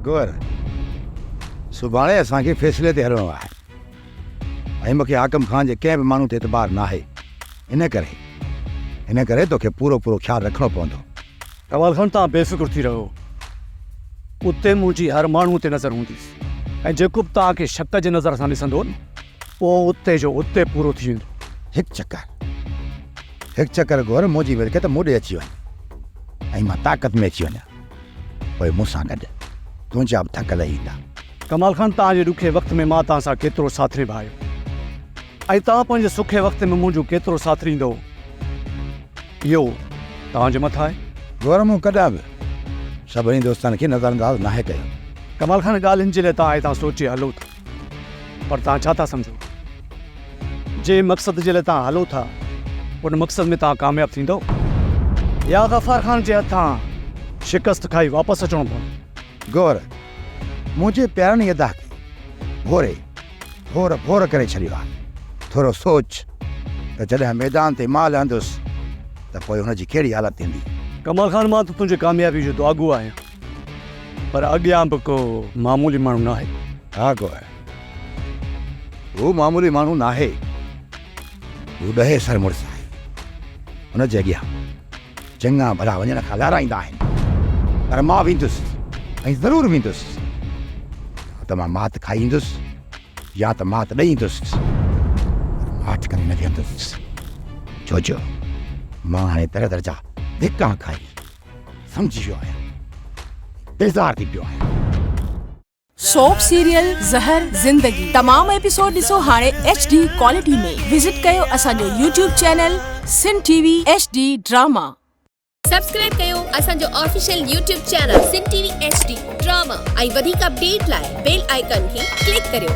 گوهر، سڀاڻي اسان کي فيصلي تي هلڻو آهي ۽ مون کي حاڪم خان جي ڪنهن به ماڻهو تي اعتبار ناهي، ان ڪري ان ڪري توکي پورو پورو خيال رکڻو پوندو. ڪمال خان، توهان بي فڪر ٿي رهو، اتي منهنجي هر ماڻهو تي نظر هوندي ۽ جيڪو به توهان کي شڪ جي نظر سان ڏسندو نه، اهو اتي جو اتي پورو ٿي ويندو. هڪ چڪر، هڪ چڪر گوهر منهنجي ملڪيت مون ڏي اچي وڃ ۽ مان طاقت ۾ اچي وڃان. پوء مون سان گڏ تنهنجا به ٿڪ لهي ايندا. ڪمال خان توهان جي ڏکي وقت ۾ مان توهان سان ڪيترو ساٿ نڀايو ۽ توهان پنهنجي سکي وقت ۾ منهنجو ڪيترو ساٿ ڏيندؤ اهو توهان جي مٿان آهي. گورو مون ڪڏهن به سڀني دوستن کي نظرانداز ناهي ڪيو. ڪمال خان ڳالهين جي لاء توهان هتان سوچي هلو ٿا. پر توهان ڇا ٿا سمجهو؟ جنهن مقصد جي لاء توهان هلو ٿا، ان مقصد ۾ توهان ڪامياب ٿيندؤ يا غفار خان جي هٿان شڪست کائي واپس اچڻو پوندو؟ غور، منهنجي پيارن يده کي ڀوري ڀور ڀور ڪري ڇڏيو آهي. ٿورو سوچ ته جڏهن ميدان تي مان لهندس ته پوء هن جي ڪهڙي حالت ٿيندي؟ ڪمال خان، مان ته تنهنجي ڪاميابيء جو دعاگو آهيان. پر اڳيان به ڪو معمولي ماڻهو ناهي. ها ڪو آهي. هو معمولي ماڻهو ناهي. هو ڏهي سر مڙس آهي. هن جي اڳيان چڱا ڀلا وڃڻ کان لارائيندا آهن. پر مان ويندس ۽ ضرور ويندس. يا ته مان مات کائي ايندس يا ته مات ڏئي ايندس. پر ماٺ ڪري نه ويهندس. ڇو جو مان هاڻي در در جا ڌڪا کائي سمجهي ويو آهيان بيزار ٿي پيو آهيان. سوپ سيريل زهر زندگي تمام ايپيسوڊ ڏسو هاڻي ايڇ ڊي ڪوالٽي ۾ وزٽ ڪيو اسان جو YouTube channel Sun T V H D drama. Subscribe ڪيو اسان جو official YouTube channel Sun T V H D drama ۽ وڌيڪ اپڊيٽ لاء بيل آئيڪن کي ڪلڪ ڪريو.